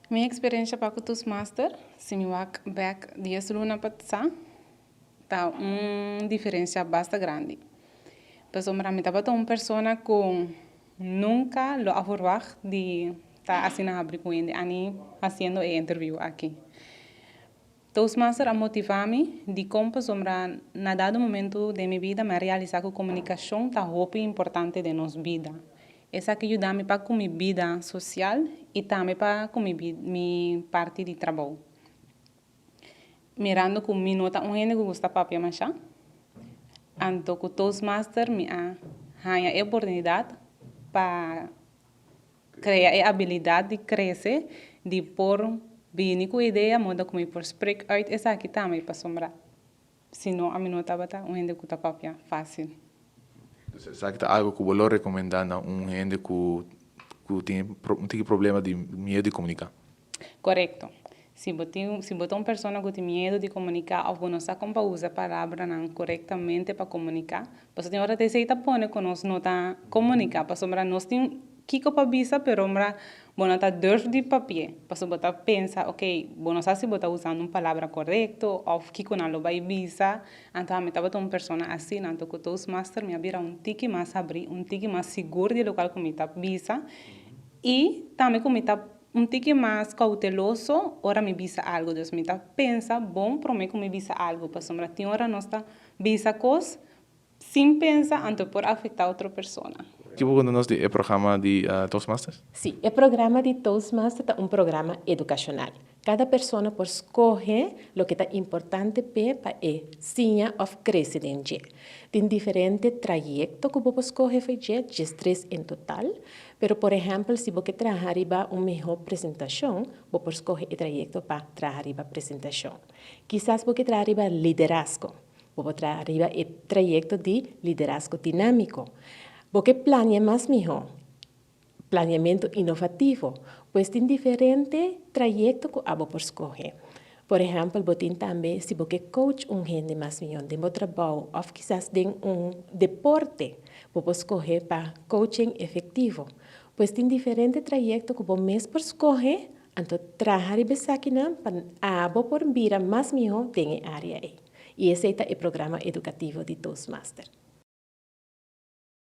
Mi experiencia pa cu Toastmaster, si mi wak bek dies luna pa sa, ta un diferencia basta grandi. Pasobra mi tabata un persona cu nunca lo a verwacht di ta asina habri cu hende, a ni haciendo e interview aki. Toastmaster a motivá mi dikon pasobra na dado momentu den mi bida mi a realisá ku komunikashon ta hopi importante den nos bida. Esaki yuda mi pa ku mi bida sosial i tambe pa ku mi mi parti di trabou. Mirando ku mi no ta un hende ku gusta papia mashá, anto ku Toastmaster mi a haña e oportunidat pa. Krea e abilidat di krese, di por bini ku idea moda ku mi por sprek uit esaki tambe pasobra si no ami no tabata un hende ku ta kopia fásil. Dus esaki ta algu ku bo lo rekomendá na un hende ku tin un tiki problema di miedu di komuniká? Korekto. Si bo tin, si bo ta un persona ku tin miedu di komuniká òf bo no sa kon pa usa palabranan korektamente pa komuniká, pasobra tin ora ta esei ta pone ku nos no ta komuniká, pasobra nos tin kiko pa bisa perombra bo no ta durf di papia, pasobra bo ta pensa, okey, bo no sa si bo ta usando un palabra korekto òf kiko nan lo bai bisa. Anto ami tabata un persona asina, anto ku Toastmaster mi a bira un tiki mas abrí, un tiki mas sigur di lokal ku mi ta bisa i tambe ku mi ta. Un tiki mas kouteloso ora mi bisa algu. Dus mi ta pensa bon promé ku mi bisa algu, pasobra tin ora nos ta bisa kos sin pensa anto e por afektá otro persona. Ke bo konta nos di e programa di Toastmasters? Sí, e programa di Toastmasters ta un programa edukashonal. Kada persona por skohe loke ta importante p'e pa e siña òf krese den dje. Tin diferente trayekto ku bo por skohe for dje, djestres en total, Pero por ehèmpel si bo ke traha riba un mihó presentashon, bo por skohe e trayekto pa traha riba presentashon. Kisas bo ke traha riba liderasko. Bo por traha riba e trayekto di liderasko dinámiko. Bo ke plania mas mihó, planiamentu inovativo. Pues tin diferente trayekto ku abo por skohe. Por ehèmpel, bo tin tambe si bo ke coach un hende mas mió den bo trabou òf kisas den un deporte, bo por skohe pa Coaching Efektivo. Pues tin diferente trayekto ku bo mes por skohe, anto traha riba esakinan pa abo por bira mas mihó den e área ei. I esei ta e programa edukativo di Toastmaster.